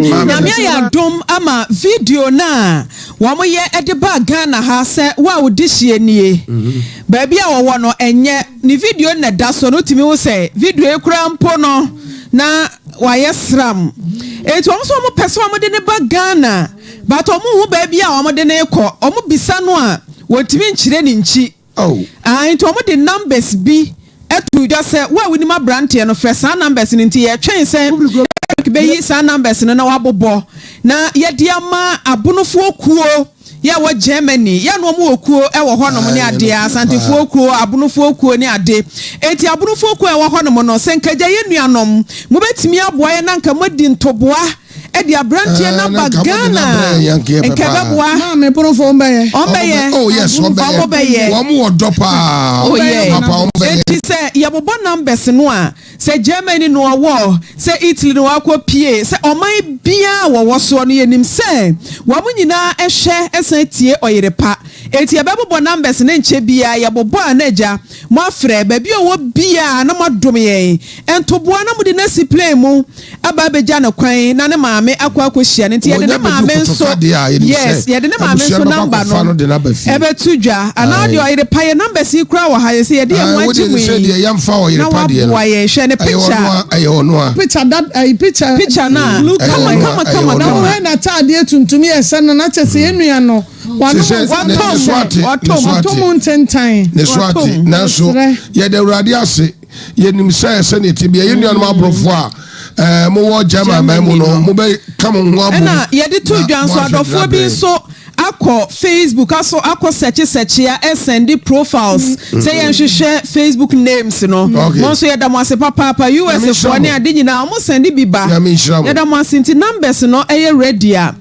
Nyame ayɛ adom ama video no a wɔyɛ de baa Ghana ha sɛ wo a wo dehyeɛ nie. Baabi a wɔwɔ no ɛnyɛ ne video no na ɛda soɔ no wotumi hu sɛ video yi koraa mpo no na wayɛ sram. Enti wɔn nso wɔpɛ sɛ wɔde no ba Ghana but wɔnhu baabi a wɔde no rekɔ. Wɔbisa no a wɔntumi nkyerɛ ne nkyi. Oh. Ae nti ɔmo de numbers bi too dwa sɛ wo a wonim abranteɛ no frɛ saa numbers no nti yɛtwɛn sɛ Eric bɛyi saa numbers no na wabobɔ na yɛde ama abonofoɔ kuo yɛ ɛwɔ Germany yɛ no ɔmo wɔ kuo ɛwɔ hɔ nom ne adeɛ asantefoɔ kuo abonofoɔ kuo ne ade nti abonofoɔ kuo a ɛwɔ hɔ nom no sɛ nka gya yɛ nuanom mobɛtumi aboa yɛ na nka moadi ntoboa de aberanteɛ no aba Ghana nka ɛbɛboa ɔmbɛyɛ ɔmobɛyɛ enti sɛ yɛbobɔ numbers no a sɛ Germany no ɔwɔ sɛ Italy no wakɔ pie sɛ ɔman biaa wɔwɔ soɔ no yɛnim sɛ wɔn nyinaa ɛhwɛ ɛsan tie ɔyere pa enti yɛbɛbobɔ numbers no nkyɛ biaa yɛbobɔ a na agya Moafrɛ baabi a ɔwɔ biara na moadom yɛn ntoboa na mode no asi plane mu aba abɛgya no kwan na ne maame akɔ akɔhyia no nti yɛde ne maame nso yes yɛde ne maame nso number no ɛbɛto dwa anaa deɛ ɔyere pa yɛ numbers yi koraa wɔ ha yɛ sɛ yɛde yɛn ho agye mu yi na waboa yɛn hwɛ ne picture picture da ayi picture picture no a kama kama kama na wɔn na ataadeɛ tuntum yɛ sɛ no na kyɛ sɛ yɛn nua no Wɔn a wɔtɔ mu, wɔtɔ mu ntentan. Ne so ate, nanso yɛda Awurade ase. Yɛnim sɛ sɛdeɛ ɛte bia yɛn nuanom aborɔfo a ɛɛ mowɔ German man mu no, mobɛka mo ho abom. Ɛna yɛde to dwa nso adɔfoɔ bi nso akɔ Facebook aso akɔ sɛkye sɛkyea ɛsɛnde profiles mm-hmm. sɛ yɛnhwehwɛ Facebook names no mo nso yɛda mo ase papaapa US foɔ ne ade nyinaa wɔn sɛnde bi ba yɛda mo ase nti numbers no ɛyɛ ready a.